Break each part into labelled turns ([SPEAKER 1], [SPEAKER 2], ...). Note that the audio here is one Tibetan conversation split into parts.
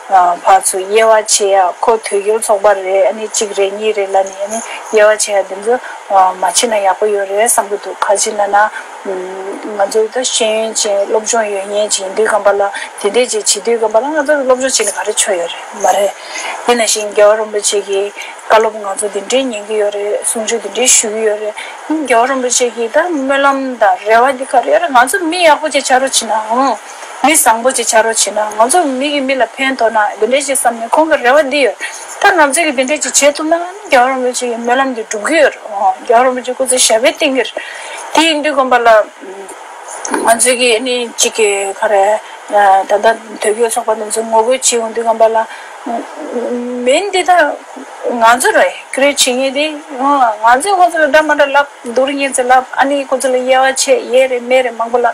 [SPEAKER 1] བར་ཚོ་དབྱེ་བ་ཕྱེ་ཡ་ཁོ་དུས་འགྱུར་ཚོགས་པ་རེད་ཨ་ནི་གཅིག་རེད་གཉིས་རེད་ལ་ནི་ཨ་ནི་དབྱེ་བ་ཕྱེ་ཡ་དེ་ཚོ་མ་ཕྱེ་ན་ཡག་པོ་ཡོད་རེད་བསམ་གྱི་འདུག་ག་ཅིག་ན་ན། ང་ཚོ་ད་ཤེས་ཡོན་ཅན་སློབ་སྦྱོང་ཡོད་ཉེས་ཅན་ཡིན་དུས་ཁམས་པ་ལ་དེ་འད་ཅེས་བྱེད་དུས་ཁམས་པ་ལ་ང་ཚོ་སློབ་སྦྱོང་བྱེད་ནི་ག་རེ་ཆོ་ཡོད་རེད་མ་རེད། དེ་ན་བཞིན་རྒྱལ་བ་རོན་པོ་ཆེ་གྱིས་བཀའ་སློབ་ང་ཚོ་དེ་འད་ཉན་གྱི་ཡོད་རེད་གསུང་ཆོས་དེ་འད་ཞུ་གྱི་ཡོད་རེད་རྒྱལ་བ་རོན་པོ་ཆེ་གྱིས་ད་སྨོན་ལམ་དང་རེ་བ་དེ་ག་རེ་ཡོད་རེད་ང་ཚོ་མི་ཡག་པོ་ཅིག་བྱ་རུ་ཕྱིན་ནའང། མི་བཟང་པོ་ཅིག་བྱ་རོགས་བྱས་ན་ང་ཚོ་མི་གི་མི་ལ་ཕན་ཐོག་ན་འདི་འདྲས་ཤིག་བསམ་ནས་ཁོང་གི་རེ་བ་འདི་ཡོད་ད་ང་ཚོས་ཀྱི་འདི་འདྲས་ཅིག་བྱེད་ཐུབ་ན་ཨ་ནི་རྒྱ་གར་རིན་པོ་ཆེ་ཡི་སྨོན་ལམ་འདི་འགྲུབ་གི་ཡོད་རེད་ཨོ་རྒྱ་གར་རིན་པོ་ཆེ་སྐུ་ཚེ་ཞབས་པད་བརྟན་གི་རེད་དེ་ཡིན་དུས་དགོན་པ་ལ་ང་ཚོས་ཀྱི་ཨ་ནི་གཅིག་གི་ཁ་རས་ད་ལྟ་དོལ་རྒྱལ་ཚོགས་པ་འདི་ཚོ་ངོ་རྒོལ་བྱེད་ཡོང་དུས་དགོན་པ་ལ་མིན་འདི་ད་ང་ཚོ་རེད་ཀི་རེ་བྱེད་ངེས་དེ་ཨོ་ང་ཚོས་ཁོང་ཚོ་ལ་དགྲ་མ་དགྲ་ལབ་སྡུག་རུ་ཉེན་ཚེ་ལབ་ཨ་ནི་ཁོང་ཚོ་ལ་དབྱེ་བ་ཆེ་དབྱེ་རེ་མེད་རེ་མང་པོ་ལབ།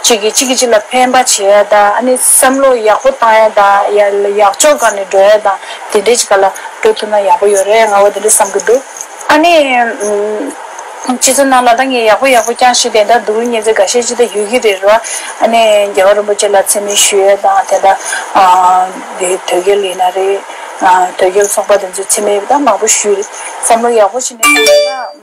[SPEAKER 1] གཅིག་གིས་གཅིག་གི་གཅིག་ལ་ཕན་པ་བྱེད་ཡ་དང་ཨ་ནི་བསམ་བློ་ཡག་པོ་བཏང་ཡ་དང་ཡག་ཕྱོགས་གང་ནས་འགྲོ་ཡ་དང་དེ་འདྲའི་ཅིག་ལ་འགྲོ་ཐུབ་ན་ཡག་པོ་ཡོད་རེད་ང་བོ་དེ་འདྲ་བསམ་གི་འདུག་ཨ་ནི་སྤྱི་ཚོགས་ནང་ལ་ད་ངས་ཡག་པོ་ཡག་པོ་བསྐྱངས་ཤིག་དེ་འདྲ་འདུག་རུང་ཉེ་ཚེ་ག་ཤེད་ཅི་ད་ཡོད་ཀྱི་རེད་རེད་བ་ཨ་ནི་རྒྱལ་བ་རིན་པོ་ཆེ་ལ་མཚན་སྨད་ཞུ་ཡ་དང་དེ་འདྲ་དེ་དོལ་རྒྱལ་ཡིན་ན་རེད་དོལ་རྒྱལ་ཚོགས་པ་དེ་ཚོས་མཚན་སྨད་ད་མང་པོ་ཞུས་རེད་བསམ་བློ་ཡག་པོ་བྱས་ནས་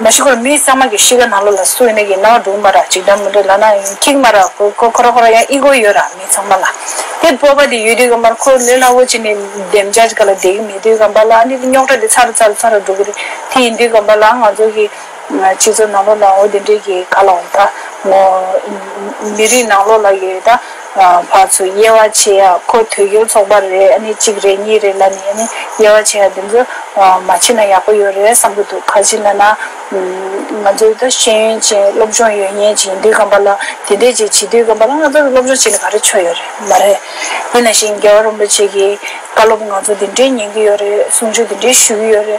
[SPEAKER 1] མ་ཤི་ཁོར་མི་གཙང་མ་གི་ཤི་ཀ་ནང་ལོ་ལ་སུ་ཡིན་ན་ཡིན་ནའོ་འབྲུག་མ་ར་གཅིག་འདྲ་མི་འདྲ་ལ་ན་ཁིག་མ་ར་ཁོ་ཁོ་ར་ཁོ་ར་ཡང་ཨི་གོ་ཡོད་ར་མི་གཙང་མ་ལ་དེ་སྤོ་བ་དེ་ཡོད་དུས་ཀ་མ་ར་ཁོ་ལོས་ལ་བོ་ཅི་ནས་འདེམ་བྱ་ཅི་ཀ་ལ་འདེག་གི་མེད་དུས་ཀ་མ་ལ་ནི་རྙོག་གྲ་དེ་ཚ་ར་ཚ་ར་ཚ་ར་འགྲོ་གི་རེད་དེ་ཡིན་དུས་ཀ་མ་ལ་ང་ཚོ་གི་སྤྱི་ཚོགས་ནང་ལོ་ལ་འོ་དེ་འདྲས་གི་ག་ལ་འོང་ད་མོ་མི་རིགས་ནང་ལོ་ལ་ཡོད་ད། བར་ཚོ་དབྱེ་བ་ཕྱེ་ཡ་ཁོ་ཐོད་སྒྱུར་ཚོགས་པ་རེད་ཨ་ནི་གཅིག་རེད་གཉིས་རེད་ལ་ནི་ཨ་ནི་དབྱེ་བ་ཕྱེ་ཡ་དེ་ཚོ་མ་ཕྱེ་ན་ཡག་པོ་ཡོད་རེད་བསམ་གྱི་འདུག་ག་གཞི་ན་ན་ང་ཚོའི་ད་ཤེས་ཡོན་ཅན་སློབ་སྦྱོང་ཡོད་ཉེས་ཅན་དུས་སྐམ་པ་ལ་དེ་འད་ཅེས་བྱེད་དུས་སྐམ་པ་ལ་ང་ཚོ་སློབ་སྦྱོང་བྱེད་ནི་ག་རེ་ཆོ་ཡོད་རེད་མ་རེད་ཡིན་ན་བཞིན་རྒྱལ་བ་རིན་པོ་ཆེ་གྱི་བཀའ་སློབ་ང་ཚོ་དེ་འད་ཉན་གྱི་ཡོད་རེད་གསུང་ཆོས་དེ་འད་ཞུ་གྱི་ཡོད་རེད།